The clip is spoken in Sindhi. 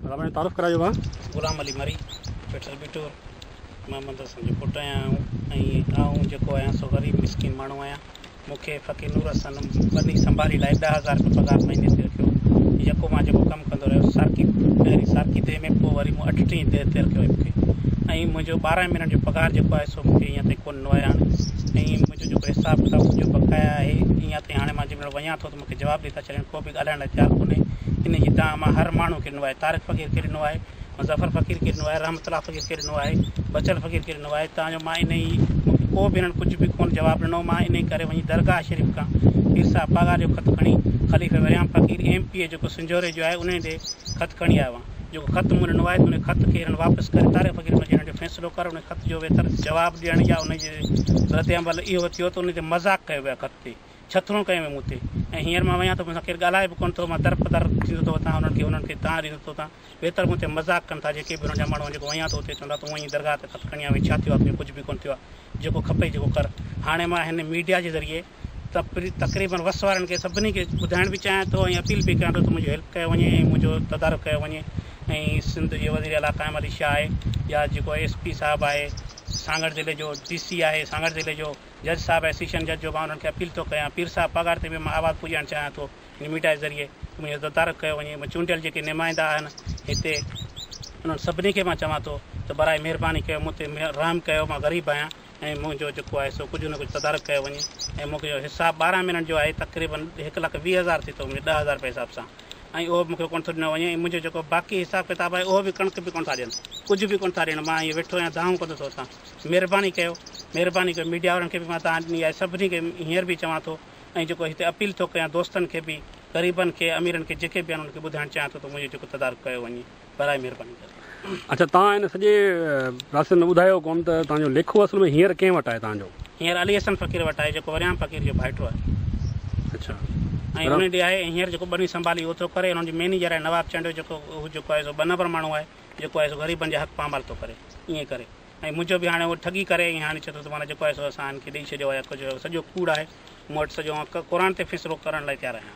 ڀلا تعارف ڪرايو ها. غلام علي مري پيٽر بيٽور محمد حسن جو پٽ آهيان آئون ۽ آئون جيڪو آهيان سو غريب مسڪين ماڻهو آهيان مون کي فقير نور حسن ٻني سنڀالي لاء ڏهه هزار رپيا پگهار مهيني تي رکيو جيڪو مان جيڪو ڪم ڪندو رهيس سارڪي پهرين سارڪي ديهه ۾ پوء وري مون اٺ ٽين ديهه تي رکيو هيو مون کي ۽ منهنجو ٻارهن مهينن جو پگهار جيڪو آهي سو مون کي اڃا تائين ڪو ڏنو آهي هاڻي ۽ منهنجو جيڪو حساب ڪتاب منهنجو بقايا آهي اڃا تائين هاڻي مان جنهن مهل وڃان ٿو مون کي جواب ڏي ٿا ڇڏين ڪو به ڳالهائڻ لاء تيار ڪونهي انهي جي دانهن مان هر ماڻهو کي ڏنو آهي طارق فقير کي ڏنو آهي مظفر فقير کي ڏنو آهي رحمت الله فقير کي ڏنو آهي بچل فقير کي ڏنو آهي تان جو مان انهي مون کي ڪو به هنن ڪجهه به ڪونه جواب ڏنو مان انهي ڪري وڃي درگاهه شريف کان پير صاحب پاڳار جو خط کڻي خليفي Waryam Faqir M P A جيڪو سنجهوري جو آهي انهي ڏي خط کڻي آيو آهيان جيڪو خط مون ڏنو آهي ته انهي خط کي هنن واپس ڪري طارق فقير انهي جي هنن جو فيصلو ڪر انهي خط جو ويتر جواب ڏيڻ يا انهي جي رد عمل اهو ٿيو ته انهي تي مذاق ڪيو ويو آهي خط تي ڇٿرون ڪيون هيون مون تي ۽ هينئر مان وڃان ٿو مون سان ڪير ڳالهائي به ڪونه ٿو مان در پدر ٿيندو ٿو وتان انهن کي انهن کي تان ڏيندو ٿو تان ويتر مون تي مذاق ڪن ٿا جيڪي به انهن جا ماڻهو آهن جيڪو وڃان ٿو اتي چوندا تون وڃي درگاهه تي خط کڻي آ وڃي ڇا ٿيو آ تنهنجو ڪجهه به ڪونه ٿيو آ جيڪو کپئي جيڪو ڪر هاڻي مان هن ميڊيا جي ذريعي تپري تقريبن وس وارن کي سڀني کي ٻڌائڻ به چاهيان ٿو ۽ اپيل به ڪيان ٿو ته منهنجو هيلپ ڪيو وڃي ۽ منهنجو تدارڪ ڪيو وڃي ۽ سنڌ جي وزير اعليٰ قائم علي شاهه آهي يا جيڪو ايس پي صاحب آهي سانگهڙ ضلعي جو ڊي سي آهي سانگهڙ ضلعي جو جج صاحب ۽ سيشن جج جو مان انهن کي اپيل ٿو ڪيان پير صاحب پگهار تي به مان آواز پڄائڻ چاهيان ٿو هن ميڊيا جي ذريعي ته منهنجو تدارڪ ڪيو وڃي ۽ چونڊيل جيڪي نمائندا آهن هتي انهن سڀني کي مان چوان ٿو ته براء مهرباني ڪيو مون تي رحم ڪيو مان غريب آهيان ۽ منهنجو جيڪو آهي سو ڪجهه نه ڪجهه تدارڪ ڪيو وڃي ۽ مون کي حساب ٻارهن مهينن جو آهي تقريبن هڪ لک ويهه هزار ٿي ٿو ملي ڏهه هزار رپيا حساب سان ۽ اهو به مون کي ڪونه ٿو ڏنو وڃي ۽ منهنجو جيڪو باقي حساب ڪتاب آهي اهو به ڪڻڪ به ڪونه ٿا ڏين ڪجهه به ڪونه ٿا ڏين مان هيئن ويٺو آهيان دانهون ڪندو ٿو اٿان. مھرباني ڪيو مھرباني ڪيو ميڊيا وارن کي به مان تان ڏني آھي سڀني کي ھينئر به چوان ٿو ۽ جيڪو ھتي اپيل ٿو ڪيان دوستن کي به غريبن کي اميرن کي جيڪي به آھن انھن کي ٻڌائڻ چاھيان ٿو ته منھنجو جيڪو تدارڪ ڪيو وڃي براء مھرباني ڪري. اڇا توھان ھن سڄي پراسيس ۾ ٻڌايو ڪون ته توھان جو ليکو اصل ۾ ھينئر ڪنھن وٽ آھي توھان جو؟ ھينئر علي حسن فقير وٽ آھي جيڪو وريام فقير جو ڀائٽو آھي اڇا ۽ وريام. انھي ڏي آھي ۽ ھينئر جيڪو ٻنھي سنڀالي اھو ٿو ڪري ۽ انھن جو مينيجر آھي نواب چانڊيو جيڪو ھو جيڪو آھي سو ٻه نمبر ماڻھو آھي جيڪو آهي سو غريبن جا حق پامال ٿو ڪري ائين ڪري ۽ منهنجو به هاڻي اهو ٺڳي ڪري ۽ هاڻي چئي ٿو ته معنيٰ جيڪو آهي سو اسان هن کي ڏئي ڇڏيو آهي ڪجهه سڄو ڪوڙ آهي مون وٽ سڄو آئون قرآن تي فيصلو ڪرڻ لاء تيار آهيان